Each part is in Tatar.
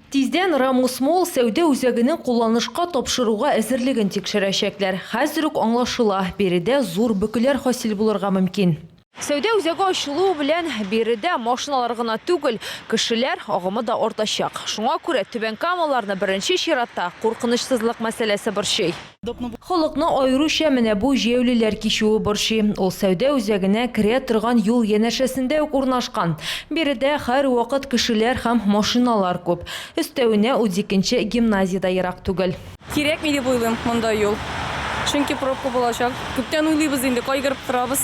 Тиздән Рамус Молл сәүдә үзәгенең кулланышка тапшыруга әзерлеген тикшерәчәкләр. Хәзер үк аңлашыла, биредә зур бөкеләр хасил булырга мөмкин. Сәүдә үзәге ачылуы белән биредә машиналар гына түгел, кешеләр агымы да артачак. Шуңа күрә түбәнкамалыларны беренче чиратта куркынычсызлык мәсьәләсе борчый. Халыкны аеруча менә бу җәяүлеләр кичүе борчый. Ул сәүдә үзәгенә керә торган юл янәшәсендә үк урнашкан. Биредә һәрвакыт кешеләр һәм машиналар күп. Өстәвенә, удикенче гимназия дә ерак түгел. Кирәкми дип уйлыйм монда юл. Чөнки пробка булачак. Күптән уйлыйбыз инде, кайгырып торабыз.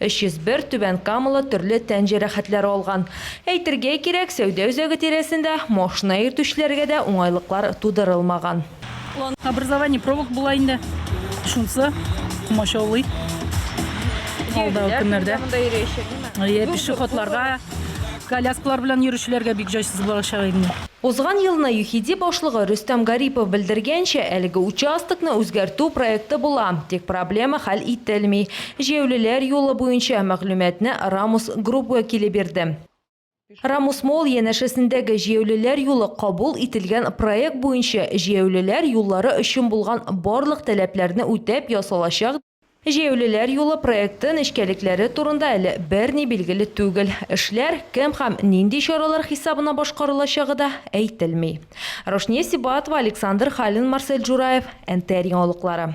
301 түбән камалы төрле тән җәрәхәтләре алган. Әйтергә кирәк, сәүдә үзәге тирәсендә машина йөртүчеләргә дә уңайлыклар тудырылмаган. Образование провок була инде, шунсы комачаулый алдагы көннәрдә. Әйе, пешеходларга, коляскалар белән йөрүчеләргә бик җайсыз булачак инде. Узган елны ЮХИДИ башлыгы Рөстәм Гарипов белдергәнчә, әлеге участокны үзгәртү проекты була, тик проблема хәл ителми. Җәяүлеләр юлы буенча мәгълүматны Рамус Групп вәкиле бирде. Рамус Молл янәшәсендәге җәяүлеләр юлы кабул ителгән проект буенча җәяүлеләр юллары өчен булган барлык таләпләрне үтәп ясалачак Җәяүлеләр юлы проекты нечкәлекләре турында әле берни билгеле түгел, эшләр кем һәм нинди чаралар хисабына башкарылачагы да әйтелми. Рушния Сибатова, Александр Халин, Марсель Джураев, НТР яңалыклары.